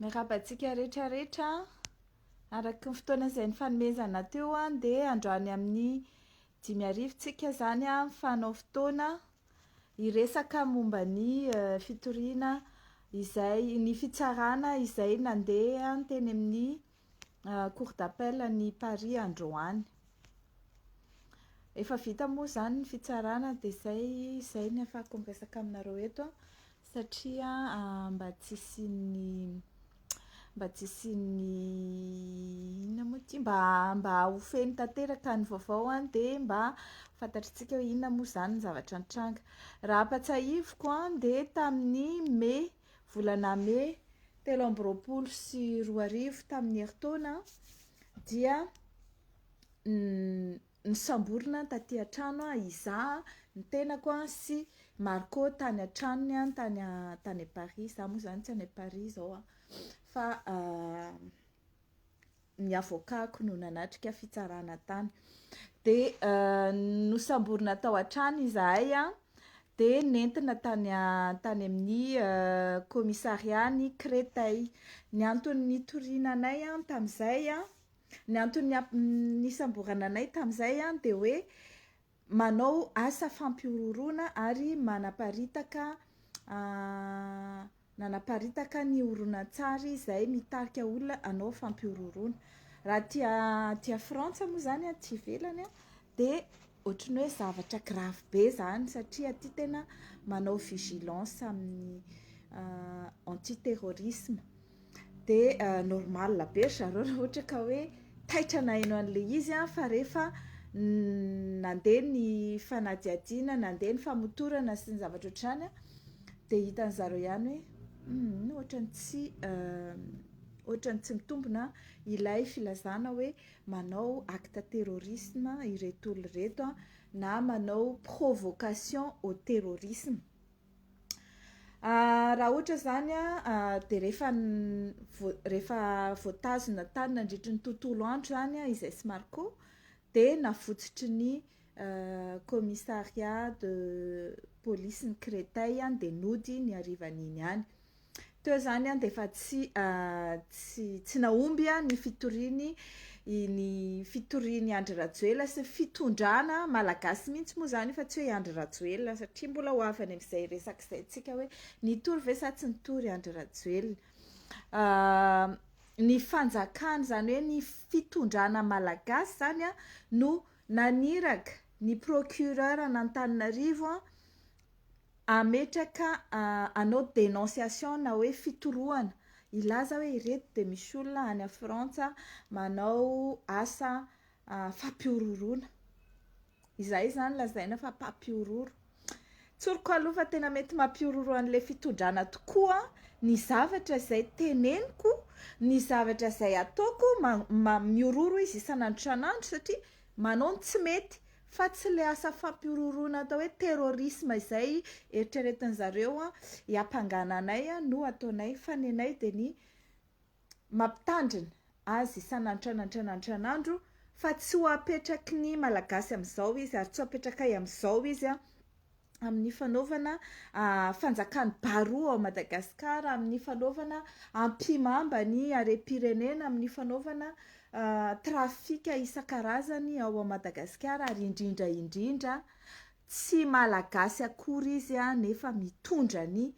Miarahaba antsika rehetra rehetra. Araka ny fotoana izay nifanomezana teo dia androany amin'ny dimy arivo tsika izany mifanao fotoana Hiresaka momba ny fitoriana izay ny fitsarana izay nandeha teny amin'ny Cour d'appel an'i Paris androany. Efa vita moa izany ny fitsarana dia izay izay no ahafahako miresaka aminareo eto satria mba tsy hisian'ny mba tsy hisian'ny inona moa ity mba mba ho feno tanteraka ny vaovao an dia mba fantatritsika hoe inona moa izany ny zavatra nitranga raha ampatsahiviko an dia tamin'ny me volana me telo amby roapolo sy roa arivo tamin'ny herintaona dia Nisamborina aho taty an-trano, izaho, ny tenako sy Marco tany an-tranony tany tany Paris, izaho moa izany tsy any Paris izao fa ny avocat-ko no nanatrika fitsarana tany. Dia nosamborina tao an-trano izahay dia nentina tany tany amin'ny kaomisarian'i Créteil. Ny antony nitoriana anay tamin'izay Ny antony nisamborana anay tamin'izay dia hoe manao asa fampihorohoroana ary manaparitaka nanaparitaka ny horonantsary izay mitarika olona hanao fampihorohoroana. Raha aty aty Frantsa moa izany, aty ivelany, dia Ohatry ny hoe zavatra grave be zany satria aty tena manao vigilance amin'ny anti terrorisme de normal be ry zareo raha ohatra ka hoe taitra naheno an'le izy fa rehefa nandeha ny fanadihadiana nandeha ny famotorana sy ny zavatra ohatr'izany de hitan'ny zareo ihany hoe humm ohatran'ny tsy ohatran'ny tsy mitombina ilay filazana hoe manao acte terrorisme ireto olona ireto na manao provocation au terrorisme Ah, raha ohatra izany ah, dia rehefa rehefa voatazona tany nandritry ny tontolo andro izany ah, izay Smarco dia navotsotry ny eh, commissariat de police ny Créteil dia nody ny harivan'iny ihany. Teo zany an dia efa tsy tsy tsy nahomby an ny fitoriany ny fitoriany Andry Rajoelina sy ny fitondrana malagasy mihitsy moa zany fa tsy hoe i Andry Rajoelina satria mbola ho avy any amin'izay resaka izay antsika hoe nitory ve sa tsy nitory Andry Rajoelina ny fanjakana zany hoe ny fitondrana malagasy zany an no naniraka ny procureur an'Antananarivo an Ametraka hanao denonciation na hoe fitorohana, hilaza hoe ireto dia misy olona any Frantsa manao asa fampihorohoroana. Izay izany lazaina fa mpampihorohoro. Tsoriko aloha fa tena mety mampihorohoro an'ilay fitondràna tokoa ny zavatra izay teneniko, ny zavatra izay ataoko. Mihorohoro izy isan'andro isan'andro satria. Manao ny tsy mety, fa tsy ilay asa fampihorohoroana atao hoe terrorisme izay eritreretin'ny zareo hiampangana anay no ataonay, fa ny anay dia ny mampitandrina azy isan'antranatranatranaandro fa tsy ho apetraky ny Malagasy amin'izao izy ary tsy ho apetrakay amin'izao izy amin'ny fanaovana fanjakan'ny baroa ao Madagasikara, amin'ny fanaovana ampihimamba ny harem-pirenena, amin'ny fanaovana trafika isan-karazany ao Madagasikara ary indrindra indrindra tsy malagasy akory izy nefa mitondra an'i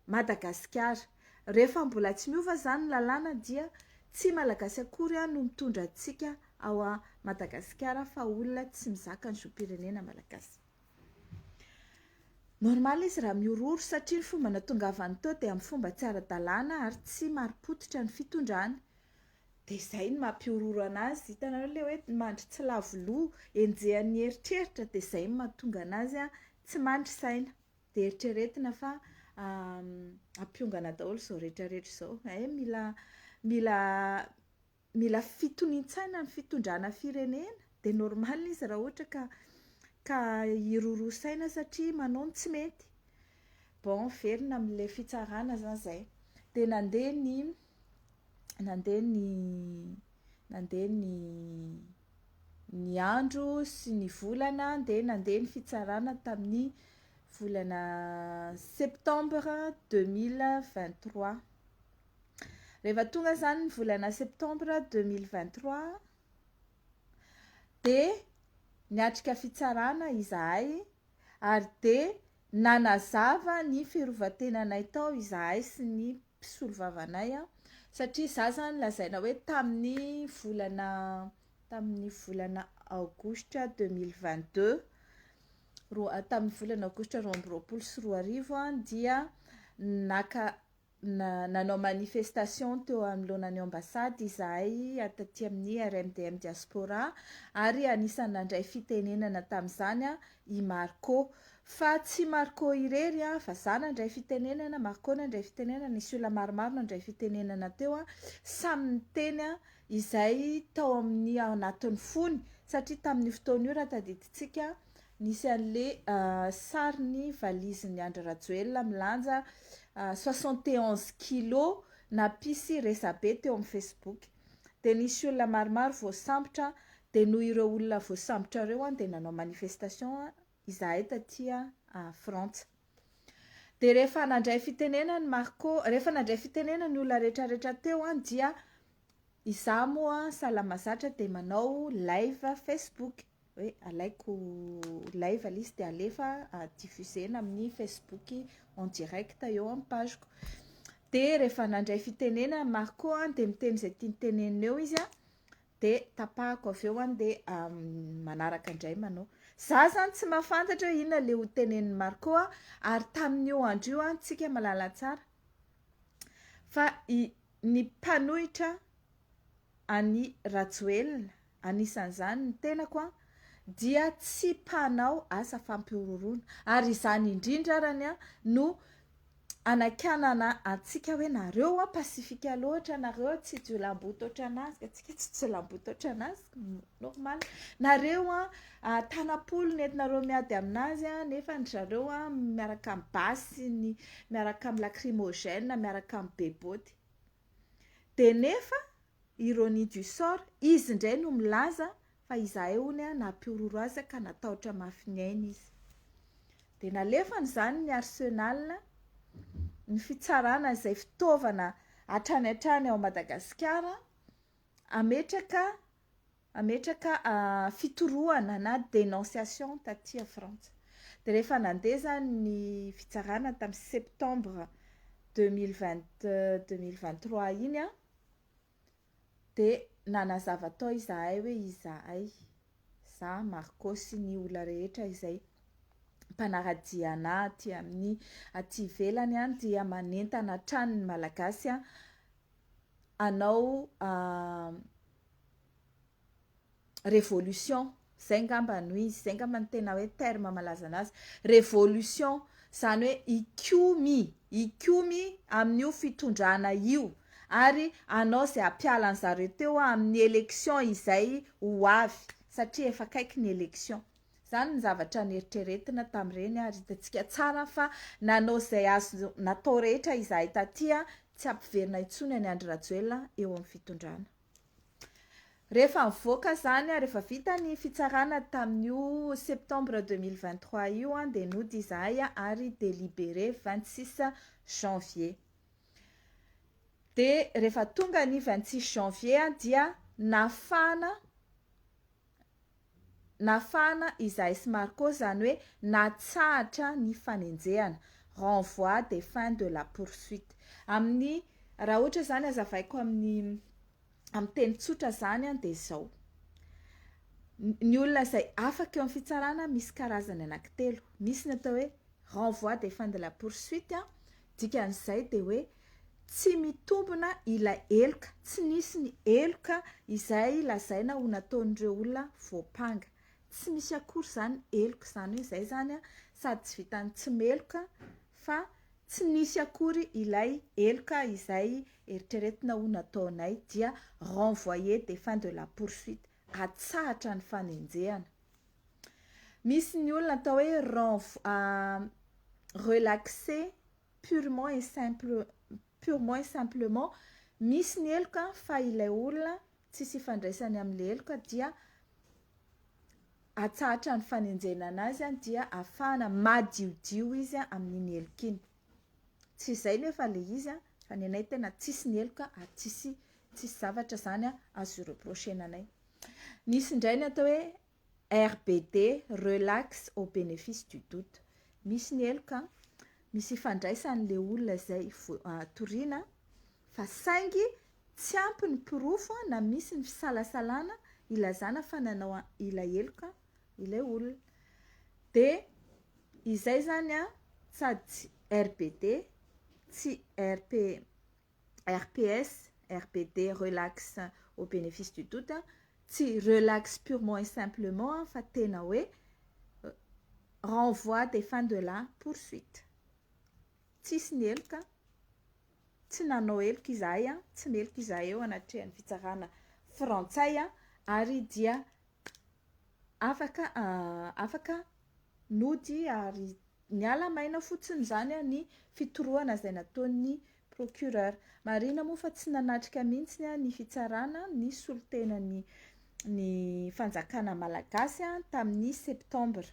Madagasikara. Rehefa mbola tsy miova izany ny lalàna dia tsy malagasy akory no mitondra antsika ao Madagasikara fa olona tsy mizaka ny zom-pirenena malagasy. Normal izy raha mihorohoro satria ny fomba natongavany teo dia amin'ny fomba tsy ara-dalàna ary tsy marim-pototra ny fitondrany. Dia izay no mampihorohoro an'azy. Hitanareo ilay hoe mandry tsy lavo loha, enjehan'ny eritreritra dia izay no mahatonga an'azy tsy mandry saina. Dia eritreretina fa hampiongana daholo izao rehetra rehetra izao. Hay mila mila mila fitonian-tsaina ny fitondrana firenena dia normal izy raha ohatra ka ka hiroroa saina satria manao ny tsy mety bon velona amin'ilay fitsarana zany izay dia nandeha ny nandeha ny nandeha ny ny andro sy ny volana dia nandeha ny fitsarana tamin'ny volana septembre deux mille vingt trois Rehefa tonga izany ny volana septambra deux mille vingt trois dia niatrika fitsarana izahay ary dia nanazava ny fiarovan-tenanay tao izahay sy ny mpisolovavanay satria izaho izany lazaina hoe tamin'ny volana tamin'ny volana aogositra deux mille vingt deux roa tamin'ny volana aogositra roa amby roapolo sy roa arivo dia naka Na, nanao manifestation teo anoloana ny Ambassade izahay taty amin'ny RMDM Diaspora ary anisan'ny nandray fitenenana tamin'izany i Marco. Fa tsy Marco irery fa za nandray fitenenana, Marco nandray fitenenana, nisy olona maromaro nandray fitenenana teo, samy niteny izay tao amin'ny ao anatin'ny fony satria tamin'io fotoana io raha tadidintsika Nisy anle sarin'ny valizin'i Andry Rajoelina milanja soixante et onze kilos nampisy resabe teo amin'ny Facebook. Dia nisy olona maromaro voasambotra, dia noho ireo olona voasambotra ireo dia nanao manifestation izahay taty Frantsa. Dia rehefa nandray fitenenana i Marco, rehefa nandray fitenenana ny olona rehetrarehetra teo dia izaho moa sahala mahazatra dia manao live Facebook. hoe alaiko ilay valise dia alefa diffusena amin'ny Facebook en direct eo amin'ny page-ko. Dia rehefa nandray fitenenana Marco dia miteny izay tiany tenenina eo izy dia tapahako avy eo dia manaraka indray manao. Za zany tsy mahafantatra hoe inona ilay ho tenenin'i Marco ary tamin'io andro io antsika malala tsara fa ny mpanohitra an'i Rajoelina anisan'izany ny tenako an, dia tsy mpanao asa fampihorohoroana, ary izany indrindra arany an no anakianana antsika hoe nareo an pacifique loatra, nareo tsy jiolamboto otran'azy, ka tsika tsy jiolamboto otran'azy, normal, nareo an tanam-polo ny entinareo miady amin'azy an, nefa ny zareo an miaraka amin'ny basy sy ny miaraka amin'ny lacrymogène, miaraka amin'ny be boty. Dia nefa, ironie du sort, izy indray no milaza fa izahay hono nampihorohoro azy ka natahotra mafy ny ainy izy. Dia nalefany izany ny Arsenal, ny fitsarana izay fitaovana hatrany hatrany ao Madagasikara, hametraka Hametraka fitorohana na dénonciation taty Frantsa. Dia rehefa nandeha izany ny fitsarana tamin'ny septembre deux mille vingt deux mille vingt trois iny dia nanazava tao izahay hoe izahay, za Marco sy ny olona rehetra izay mpanara-dia anà aty amin'ny aty ivelany dia manentana hatrany ny Malagasy hanao revolution, izay angamba no izy, izay angamba no tena hoe terme malaza anazy, revolution, izany hoe hikomy, hikomy amin'io fitondrana io ary hanao izay hampiala an'izareo teo amin'ny élection izay ho avy satria efa akaiky ny élection. Izany ny zavatra neritreretina tamin'ireny ary hitantsika tsara fa nanao izay azo natao rehetra izahay taty tsy hampiverina intsony an'i Andry Rajoelina eo amin'ny fitondrana. Rehefa nivoaka izany, rehefa vita ny fitsarana tamin'io septembre 2023 io dia nody izahay ary délibéré 26 janvier. Dia rehefa tonga ny 26 janvier dia nafana nafahana Isaïe sy Marco, izany hoe natsahatra ny fanenjehana, renvoi des fins de la poursuite. Amin'ny, raha ohatra izany hazavaiko amin'ny amin'ny teny tsotra izany dia izao, ny olona izay afaka eo amin'ny fitsarana misy karazany anankitelo, misy ny atao hoe renvoi des fins de la poursuite, Dikan'izay dia hoe tsy mitombina ilay heloka, tsy nisy ny heloka izay lazaina ho nataon'ireo olona voampanga. Tsy misy akory izany heloka izany hoe izay izany sady tsy vitan'ny tsy meloka fa tsy nisy akory ilay heloka izay eritreretina ho nataonay dia renvoyer des fins de la poursuite, atsahatra ny fanenjehana. Misy ny olona atao hoe renf- relaxé purement et simple purement et simplement misy ny heloka fa ilay olona tsisy ifandraisany amin'ny heloka dia atsahatra ny fanenjehana anazy dia afahana madiodio izy amin'iny heloka iny. Tsy izay nefa ilay izy fa ny anay tena tsisy ny heloka ary tsisy tsisy zavatra izany azo hi-reprocher-na anay. Misy indray ny atao hoe RBD, relax au bénéfice du doute. Misy ny heloka, misy ifandraisan'ilay olona izay toriana fa saingy tsy ampy ny porofo na misy ny fisalasalana ilazana fa nanao ilay heloka ilay olona. Dia izay izany sady tsy RBD, tsy RP, RPS, RBD relax au bénéfice du doute, tsy relax purement et simplement fa tena hoe renvoi des fins de la poursuite. Tsisy ny heloka, tsy nanao heloka izahay, tsy meloka izahay eo anatrehan'ny fitsarana frantsay ary dia afaka afaka nody ary niala maina fotsiny izany ny fitorohana izay nataon'ny procureur, marihina moa fa tsy nanatrika mihitsy ny fitsarana ny solontenan'ny ny fanjakana malagasy tamin'ny septambra,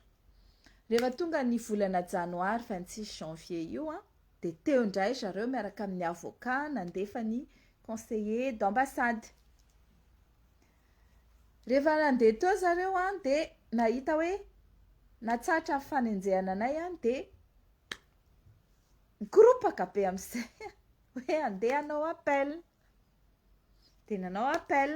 rehefa tonga ny volana janoary vingt six janvier io an dia teo indray ry zareo miaraka amin'ny avocat nandefa ny conseiller d'ambassade. Rehefa nandeha teo zareo an dia nahita hoe natsahatra ny fanenjehana anay an dia nikoropaka be amin'izay hoe handeha hanao appel. Dia nanao appel.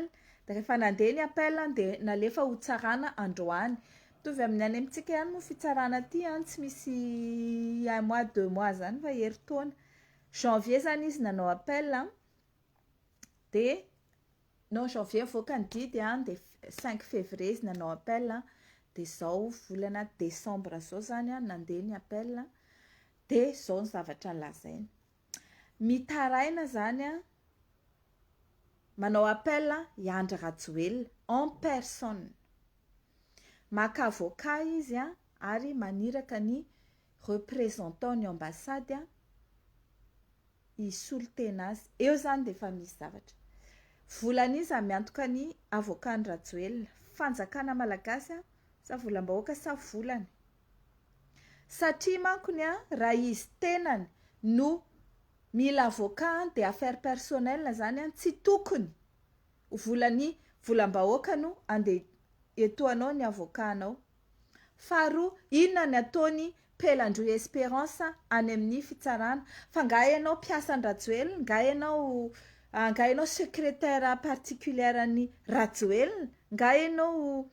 Dia rehefa nandeha ny appel an dia nalefa ho tsarana androany. Mitovy amin'ny any amintsika ihany moa fitsarana aty an, tsy misy un mois, deux mois izany fa herintaona. Janvier izany izy nanao appel. dia non janvier avoaka ny didy an, dia cinq fevrier izy nanao appel an, dia izao volana decembre izao izany an nandeha ny appel an, dia izao ny zavatra nolazainy, mitaraina izany an, manao appel an i Andry Rajoelina en personne, maka avocat izy an, ary maniraka ny représentant ny ambassade an, hisolo tena azy. Eo izany dia efa misy zavatra. Volan'iza miantoka ny avokan'i Rajoelina? Fanjakana malagasy sa volam-bahoaka sa volany? Satria mankony raha izy tenany no mila avoka dia affaire personnelle izany, tsy tokony ho volan'ny volam-bahoaka no andeha hietoanao ny avokanao. Faharoa, inona ny ataony Pelandroy Esperance any amin'ny fitsarana? Fa nga ianao mpiasa an'i Rajoelina? Nga ianao nga ianao secretaire particulière an'i Rajoelina? Nga ianao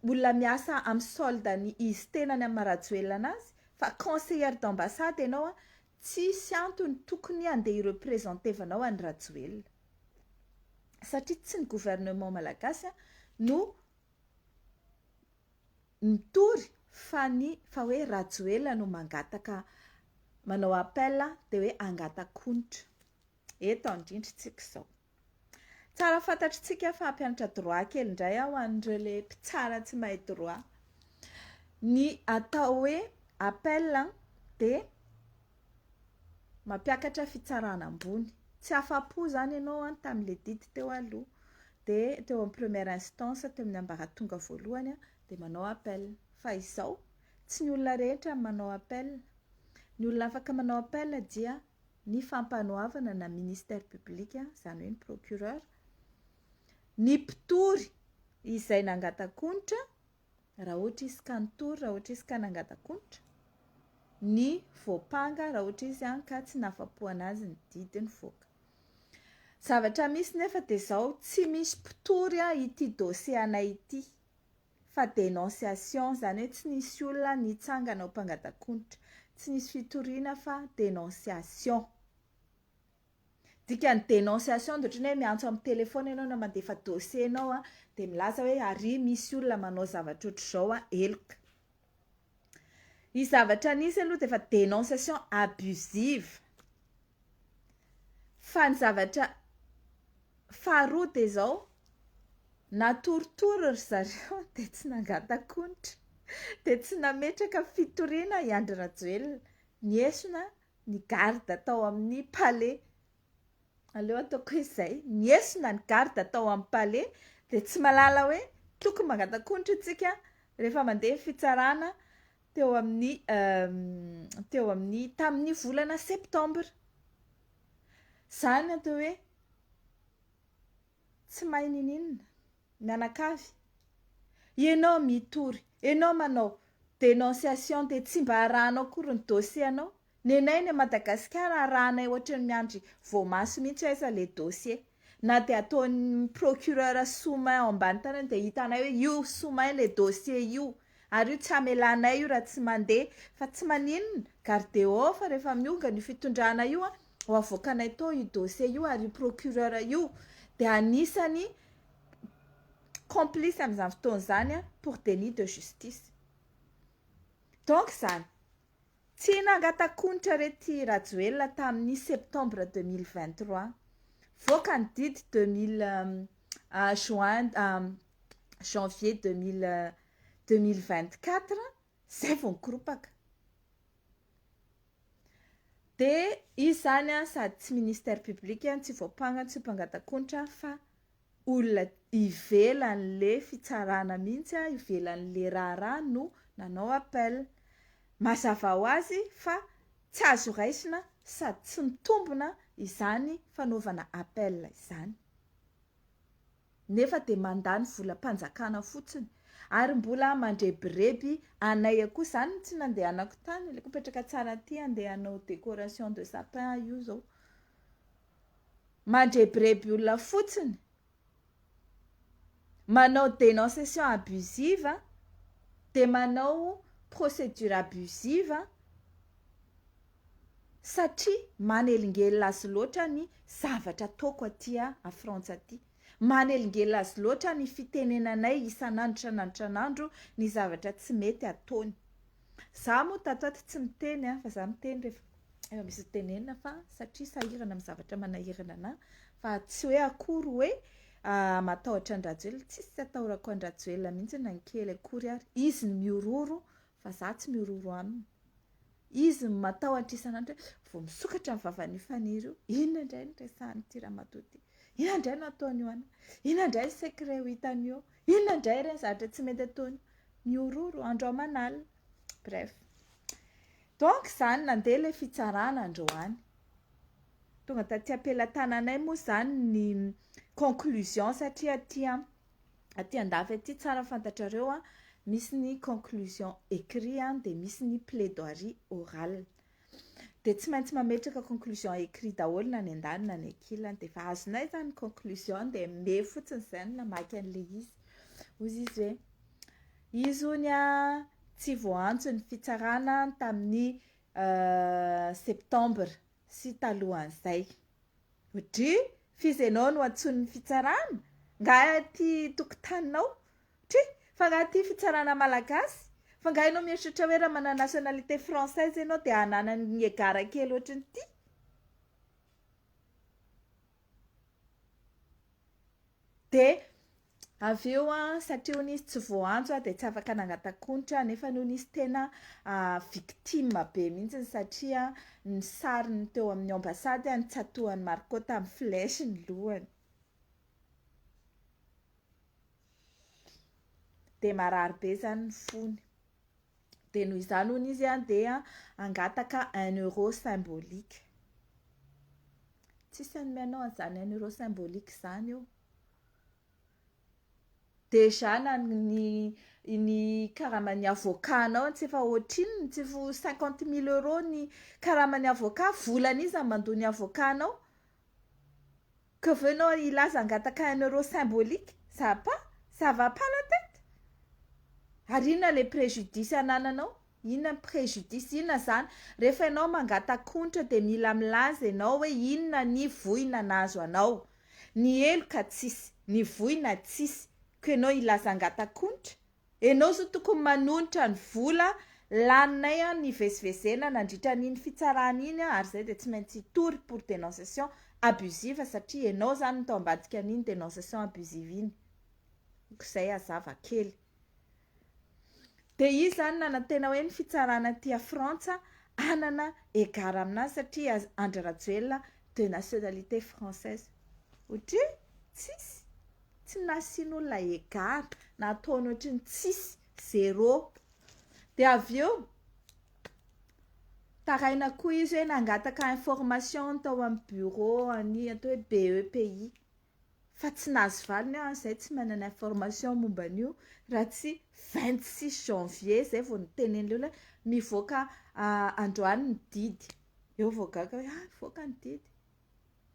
olona miasa amin'ny solde-n'izy tenany amin'ny maha Rajoelina anazy? Fa conseillère d'ambassade ianao an! Tsisy antony tokony handeha hirepresentevanao an'i Rajoelina. Satria tsy ny gouvernement malagasy no mitory fa ny fa hoe Rajoelina no mangataka manao appel dia hoe angatak'onitra. eto andrindrintsika izao. Tsara fantatritsika fa hampianatra droit kely indray aho an'ireo le mpitsara tsy mahay droit. Ny atao hoe appel dia mampiakatra fitsarana ambony. Tsy afa-po izany ianao tamin'ilay didy teo aloha dia teo amin'ny première instance teo amin'ny ambaratonga voalohany dia manao appel. Fa izao tsy ny olona rehetra no manao appel, ny olona afaka manao appel dia ny fampanoavana na ministère public izany hoe ny procureur ny mpitory izay nangatankonitra raha ohatra izy ka nitory raha ohatra izy ka nangatankonitra ny voampanga raha ohatra izy an ka tsy nafapoana azy ny didy nivoaka zavatra misy nefa dia izao tsy misy mpitory an ity dossier anay ity fa dénonciation, zany hoe tsy nisy olona nitsangana ho mpangatankoditra, tsy nisy fitoriana fa dénonciation. Dikan'ny dénonciation dia ohatran'ny hoe miantso amin'ny téléphone ianao na mandefa dossier ianao dia milaza hoe ary misy olona manao zavatra ohatr'izao heloka. Io zavatra nisy aloha dia efa denonciation abusive. Fa ny zavatra faharoa dia izao, natoritory ry zareo dia tsy nangatak'onitra, dia tsy nametraka fitoriana i Andry Rajoelina. Niesona ny garde tao amin'ny palais Aleo ataoko izay. Niesona ny garde tao amin'ny palais dia tsy malala hoe tokony mangatak'onitra isika rehefa mandeha ny fitsarana teo amin'ny teo amin'ny tamin'ny volana septembre. Izany atao hoe Tsy mahay nininona. Mianakavy. Ianao mitory. Ianao manao denonciation dia tsy mba arahanao akory ny dossier anao. Nenay ny Madagasikara arahanay ohatry ny miandry voamaso mihitsy aiza ilay dossier. Na dia ataon'ny procureur sous main ao ambany tanany dia hitanay hoe io sous main ilay dossier io. Ary io tsy hamelanay io raha tsy mandeha. Fa tsy maninona. Gardeo ao fa rehefa miongana io fitondrana io an. ho avoakanay tao io dossier io ary io procureur io dia anisany complice amin'izany fotoana izany pour délit de justice. Donc izany, tsy nangatakonitra rety Rajoelina tamin'ny septembre deux mille vingt trois, voaka ny didy deux mille juin janvier deux mille deux mille vingt quatre, Zay vao mikoropaka. Dia izy zany sady tsy ministère public, tsy voampanga, tsy mpangatak'onitra fa olona ivelan'le fitsarana mihitsy, ivelan'le raharaha no nanao appel. Mazava ho azy fa tsy azo raisina sady tsy mitombina izany fanaovana appel izany. nefa dia mandany volam-panjakana fotsiny ary mbola mandrebireby anay akoa, izany no tsy nandehanako tany, aleko mipetraka tsara aty handeha hanao décoration de sapin aho io izao, mandrebireby olona fotsiny, manao dénonciation abusive dia manao procédure abusive. satria manelingelina azy loatra ny zavatra ataoko aty a Frantsa aty, manelingelina azy loatra ny fitenenanay isan'andro isan'andro isan'andro ny zavatra tsy mety ataony. Za moa tato aty tsy miteny a, fa za miteny rehefa efa misy tenenina fa satria sahirana amin'ny zavatra manahirana anah, fa tsy hoe akory hoe matahotra an-dRajoelina, tsisy tsy atahorako an-dRajoelina mihitsy na ny kely akory ary, izy no mihorohoro fa za tsy mihorohoro aminy, izy no matahotra isan'andro hoe vao misokatra ny vavan'io Faniry io, inona indray no resahan'ity ramatoa ity, inona indray no ataony io an, inona indray ny secret ho hitany eo, inona indray ireny zavatra tsy mety ataony io, mihorohoro andro aman'alina, bref, donc izany nandeha ilay fitsarana androany, tonga taty am-pelatananay moa izany ny conclusion satria aty an, aty andafy aty tsara fantatrareo a misy ny conclusion écrit a dia misy ny plaidoirie orale dia tsy maintsy mametraka conclusion écrit daholo na ny andaniny na ny ankilany dia efa azonay izany conclusion dia me fotsiny izay no namaky an'ilay izy hoy izy hoe izy hoy ny a tsy voantso ny fitsarana tamin'ny euh, septembre sy talohan'izay. Dry, f'iza ianao no antsoin'ny fitsarana? Nga aty tokotaninao? Dry, fa nga aty fitsarana malagasy? Fa nga ianao mieritreritra hoe raha manana nationalité française ianao dia ananan'ny egara kely ohatrin'ity? Dia Avy eo satria hono izy tsy voaantso dia tsy afaka nangatakonitra nefa hono izy tena victime be mihitsy satria ny sariny teo amin'ny ambassade notsatohan'i Marco tamin'ny flèche ny lohany. dia marary be izany ny fony dia noho izany hono izy dia hangataka un euro symbolique tsisy an'ny mianao an'izany un euro symbolique izany eo Déjà na ny ny karaman'ny avocat anao tsy efa ohatrinona, tsy efa ho cinquante mille euro ny karaman'ny avocat, volan'iza no mandoa ny avocat anao? Que veux enao hilaza hangataka un euro symbolique? Ça pas? Ça va pas la tête? Ary inona ilay préjudice anananao? Inona ny préjudice inona izany? Rehefa ianao mangataka onitra dia mila milaza ianao hoe inona ny voina nahazo anao. Ny heloka tsisy, ny voina tsisy, ko ianao hilaza hangataka onitra? Ianao zao tokony manonitra ny vola laninay an nivezivezena nandritra an'iny fitsarana iny an ary zay dia tsy maintsy hitory pour dénonciation abusive satria ianao izany no tao ambadika an'iny dénonciation abusive iny. Ko izay hazava kely. Dia izy izany nanantena hoe ny fitsarana aty a Frantsa hanana égard aminazy satria Andry Rajoelina de nationalité française. Ohatry ny tsisy, tsy nasian'olona égard, nataony ohatry ny tsisy, zéro. Dia avy eo taraina koa izy hoe nangataka information tao amin'ny bureau an'i atao hoe BEPI. fa tsy nahazo valiny aho izay tsy manana information momba an'io raha tsy vingt six janvier izay vao nitenen'ilay olona hoe mivoaka androany ny didy, eo vao gaga hoe ah mivoaka ny didy,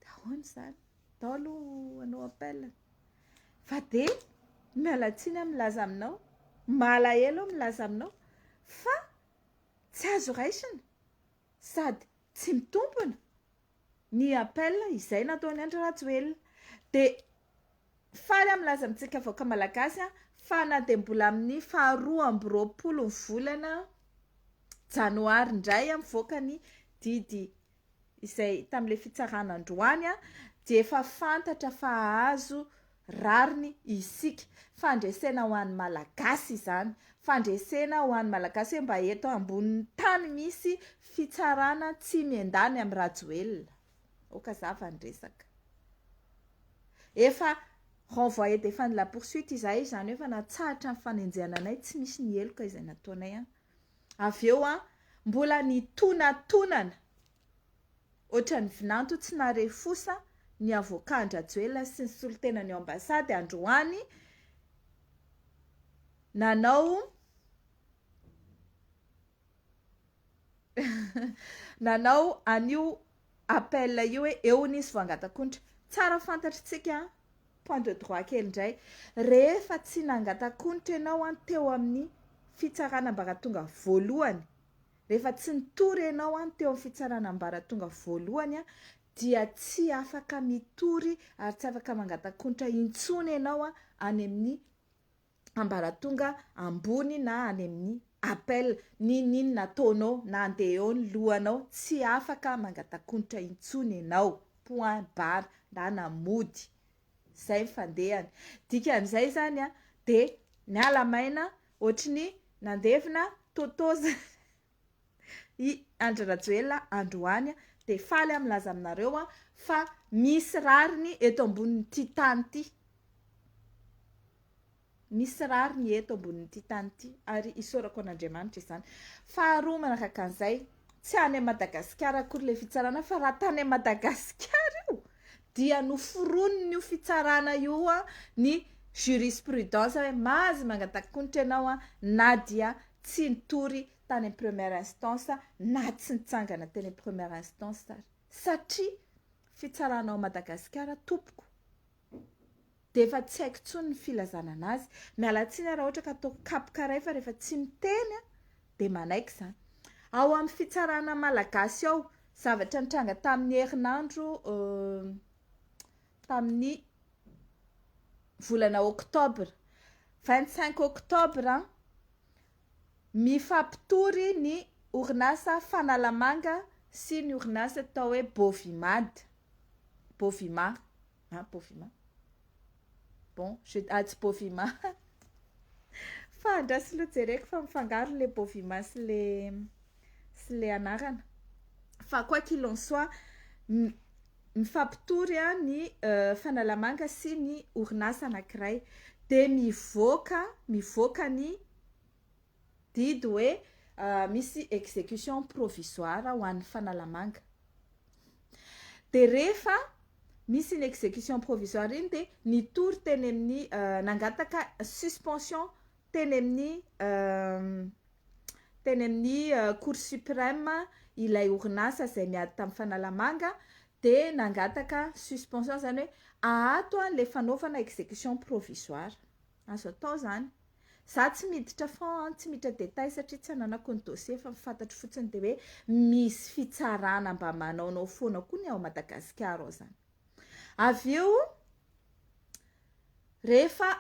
dia ahoana izany, ndao aloha hanao appel, fa dia miala tsiny aho milaza aminao, malahelo aho milaza aminao fa tsy azo raisina sady tsy mitombina. ny appel izay nataon'i Andry Rajoelina dia faly aho milaza amintsika vahoaka malagasy fa na dia mbola amin'ny faharoa amby roapolo ny volana janoary indray mivoaka ny didy izay tamin'ilay fitsarana androany dia efa fantatra fa hahazo rariny isika. Fandresena ho an'ny Malagasy izany. Fandresena ho an'ny Malagasy hoe mba eto ambonin'ny tany misy fitsarana tsy miendany amin'i Rajoelina. Aoka zava ny resaka. Efa renvoyer défunt de la poursuite izahay izany hoe efa natsahatra ny fanenjehana anay, tsy misy ny heloka izay nataonay an. Avy eo an, mbola ny tonatonana Ohatran'ny vinanto tsy nare fosa ny avocat an-dRajoelina sy ny solontenany ao ambasady androany nanao nanao an'io appel io hoe eo nisy voangatakondra. Tsara fantatritsika point de droit kely indray rehefa tsy nangatakondra ianao teo amin'ny fitsarana ambaratonga voalohany Rehefa tsy nitory ianao an teo amin'ny fitsarana ambaratonga voalohany an dia tsy afaka mitory ary tsy afaka mangatakontra intsony ianao an any amin'ny ambaratonga ambony na any amin'ny appel n'inon'inona ataonao na andeha eo ny lohanao tsy afaka mangatakontra intsony ianao point barre na na mody zay ny fandehany dikan'izay zany an dia miala maina Ohatry ny nandevina Toto zany i Andry Rajoelina androany dia faly aho milaza aminareo aho fa misy rariny eto ambonin'ity tany ity. Misy rariny eto ambonin'ity tany ity ary isaorako an'Andriamanitra izany. Faharoa manaraka an'izay, Tsy any a Madagasikara akory le fitsarana fa raha tany a Madagasikara io dia noforoniny io fitsarana io a ny jurisprudence hoe mazy mangatakonitra ianao a na dia tsy nitory tany am première instance na tsy nitsangana teny am première instance ary satria fitsarana ao Madagasikara tompoko dia efa tsy haiko intsony ny filazana anazy. Miala tsiny raha ohatra ka ataoko kapoka iray fa rehefa tsy miteny aho dia manaiky izany. Ao amin'ny fitsarana malagasy ao, zavatra nitranga tamin'ny herinandro tamin'ny volana octobre, vingt cinq octobre, mifampitory ny orinasa Fanalamanga sy ny orinasa atao hoe Bovimad. Bovima ah Bovima bon je ah tsy Bovima fa andraso aloha jereko fa mifangaro le Bovima sy le sy le anarana fa quoi qu'il en soit mifampitory ny Fanalamanga sy ny orinasa anankiray dia mivoaka mivoaka ny Didy hoe misy execution provisoire ho an'ny Fanalamanga. Dia rehefa misy iny execution provisoire iny dia nitory teny amin'ny nangataka suspension teny amin'ny teny amin'ny Cour supreme ilay orinasa izay miady tamin'ny Fanalamanga dia nangataka suspension izany hoe ahato ilay fanaovana execution provisoire. Azo atao zany. Za tsy miditra fond, tsy miditra detail satria tsy ananako ny dossier fa ny fantatro fotsiny de hoe misy fitsarana mba manaonao foana koa ny ao Madagasikara ao zany. Avy eo rehefa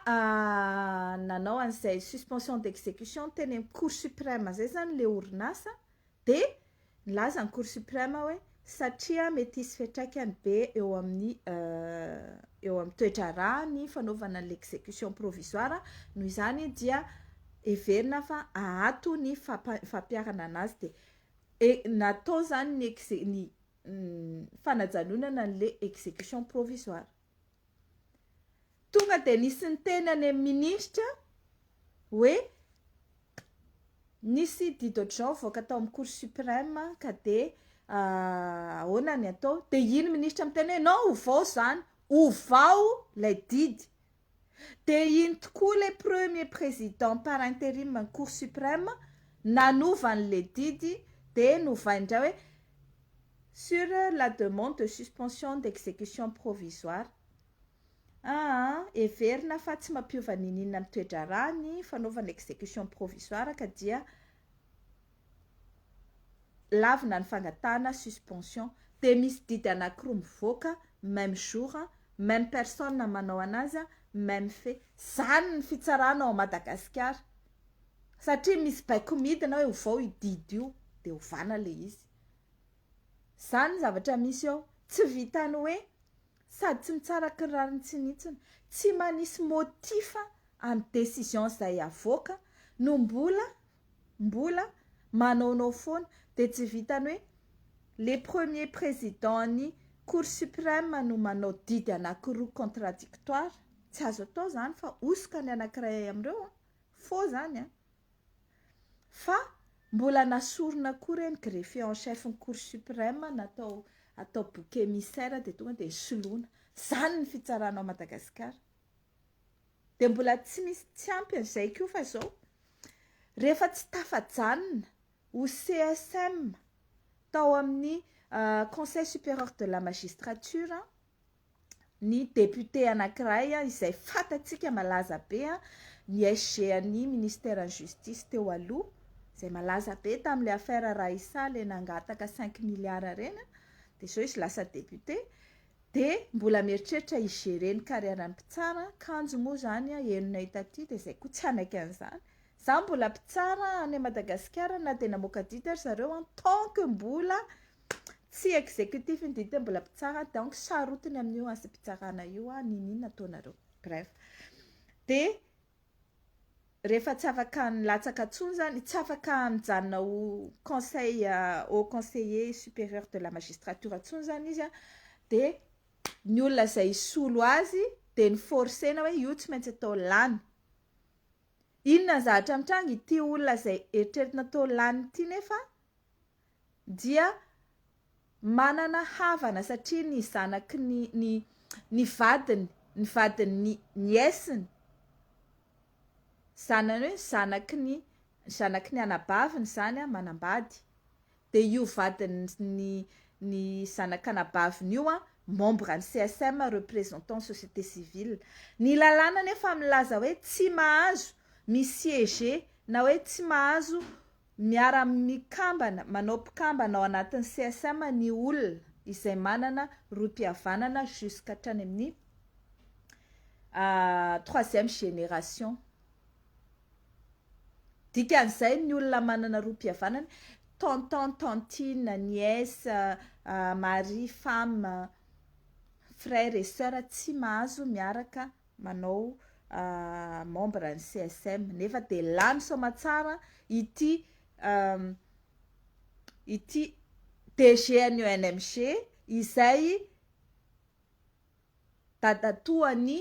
nanao an'izay suspension d'execution teny amin'ny cour supreme zay zany le orinasa Dia nilaza ny Cour Supreme hoe satria mety hisy fiantraikany be eo amin'ny eo amin'ny toe-draharaha ny fanaovana ny l'exécution provisoire, noho izany dia heverina fa ahato ny fampa- fampiharana anazy dia e- natao izany ny exe- ny fanajanonana an'ilay exécution provisoire. Tonga dia nisy niteny any amin'ny minisitra hoe nisy dit d'autre genre nivoaka tao amin'ny cour supreme ka dia ahoana ny atao? Dia iny minisitra miteny hoe non ovao izany, ovao ilay didy. Dia iny tokoa ilay premier président par interim an'ny cour supreme nanova an'ilay didy dia novainy indray hoe Sur la demande de suspension d'execution provisoire, aa, heverina fa tsy mampiova n'inon'inona amin'ny toe-draharaha ny fanaovana execution provisoire ka dia lavina ny fangatahana suspension, dia misy didy anankiroa mivoaka même jour, même personne manao an'azy, même fait. Izany ny fitsarana ao Madagasikara, satria misy baiko midina hoe ovao io didy io dia ovana ilay izy. Zany zavatra misy eo. Tsy vitan'ny hoe sady tsy mitsara kiraro mitsinitsina, tsy manisy motif amin'ny décision izay avoaka no mbola mbola manaonao foana. Dia tsy vitan'ny hoe le premier président-n'ny cour suprême no manao didy anankiroa contradictoire. Tsy azo atao izany fa hosoka ny anankiray amin'ireo an! Faux izany an! Fa mbola nasorina koa ireny greffier en chef ny cour supreme natao atao bouc emissaire dia tonga dia soloina. Izany ny fitsarana ao Madagasikara. Dia mbola tsy misy tsy ampy an'izay koa fa izao rehefa tsy tafajanona ho CSM tao amin'ny conseil superieur de la magistrature ny député anankiray izay fantatsika malaza be, ny SG an'ny Ministeran'ny Justice teo aloha, izay malaza be tamin'ilay affaire Raissa ilay nangataka cinq milliards ireny, dia izao izy lasa député, dia mbola mieritreritra hi-gérer ny carrière ny mpitsara, kanjo moa izany henonay taty dia izay koa tsy hanaiky an'izany, izaho mbola mpitsara any Madagasikara na dia namoaka didy ary zareo en tant que mbola Tsy executif ny dite mbola mpitsara donc sarotiny amin'io asim-pitsarana io an, ninin ataonareo. Bref. Dia rehefa tsy afaka nilatsaka tsony zany, tsy afaka nijanona ho conseil haut conseiller superieur de la magistrature tsony zany izy an, dia ny olona izay hisolo azy dia ni forcer-na hoe io tsy maintsy atao lany. Inona ny zavatra mitranga, ity olona izay eritreretina atao lany ity nefa dia manana havana satria ny zanaky ny ny ny vadiny ny vadin'ny nièce-ny zanany hoe zanaky ny zanaky ny anabaviny izany an manambady dia io vadin'ny ny zanak'anabaviny io an membre an'ny CSM représentant société civile ny lalàna anefa milaza hoe tsy mahazo mi-siège na hoe tsy mahazo Miara amin'ny kambana manao mpikambana ao anatin'ny CSM ny olona izay manana rohim-pihavanana jusque hatrany amin'ny troisième génération. Dikan'izay ny olona manana rohim-pihavanana, tonton, tantine, nièce, mari, femme, frère et soeur tsy mahazo miaraka manao membre ny CSM nefa de lany soamatsara ity ity DG an'ny ONMG izay dadatoa ny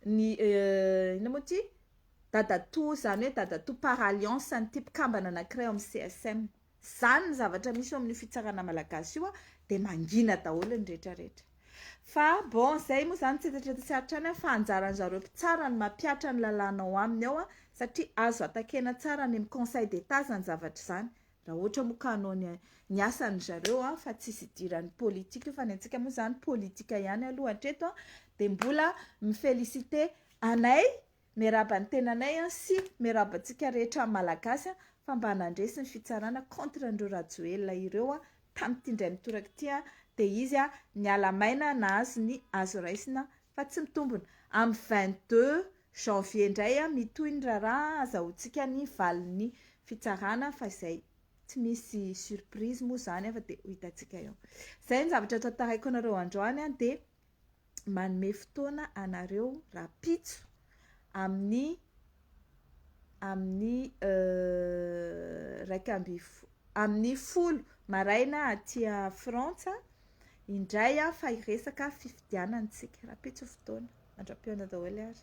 ny inona moa ity dadatoa zany hoe dadatoa par alliance an'ity mpikambana anankiray ao amin'ny CSM. Izany ny zavatra misy eo amin'io fitsarana malagasy io dia mangina daholo ny rehetra rehetra. Fa bon izay moa izany tsy etatretasy hatrany aho fa anjaran'ny zareo mpitsara ny mampihatra ny lalàna ao aminy ao satria azo atakena tsara any amin'ny conseil d'etat izany zavatra izany raha ohatra moa ka hanao ny ny asan'ny zareo an fa tsisy idiran'ny politika io fa ny antsika moa izany politika ihany aloha hatreto an dia mbola mi-féliciter anay Miarahaba ny tenanay an sy miarahaba antsika rehetra Malagasy an fa mba nandresy ny fitsarana contre an'ireo Rajoelina ireo an tamin'ity indray mitoraka ity an dia izy an niala maina nahazo ny azo raisina fa tsy mitombona amin'ny vingt deux janvier indray an mitohy ny raharaha an azahoantsika ny valin'ny fitsarana fa izay tsy misy surprise moa izany an fa dia ho hitantsika eo izay ny zavatra tantaraiko anareo androany an dia manome fotoana anareo rahampitso amin'ny amin'ny iraika ambin'ny fo- amin'ny folo maraina aty Frantsa indray an fa hiresaka fifidianana isika, rahampitso ny fotoana, mandra-pihaona daholo ary.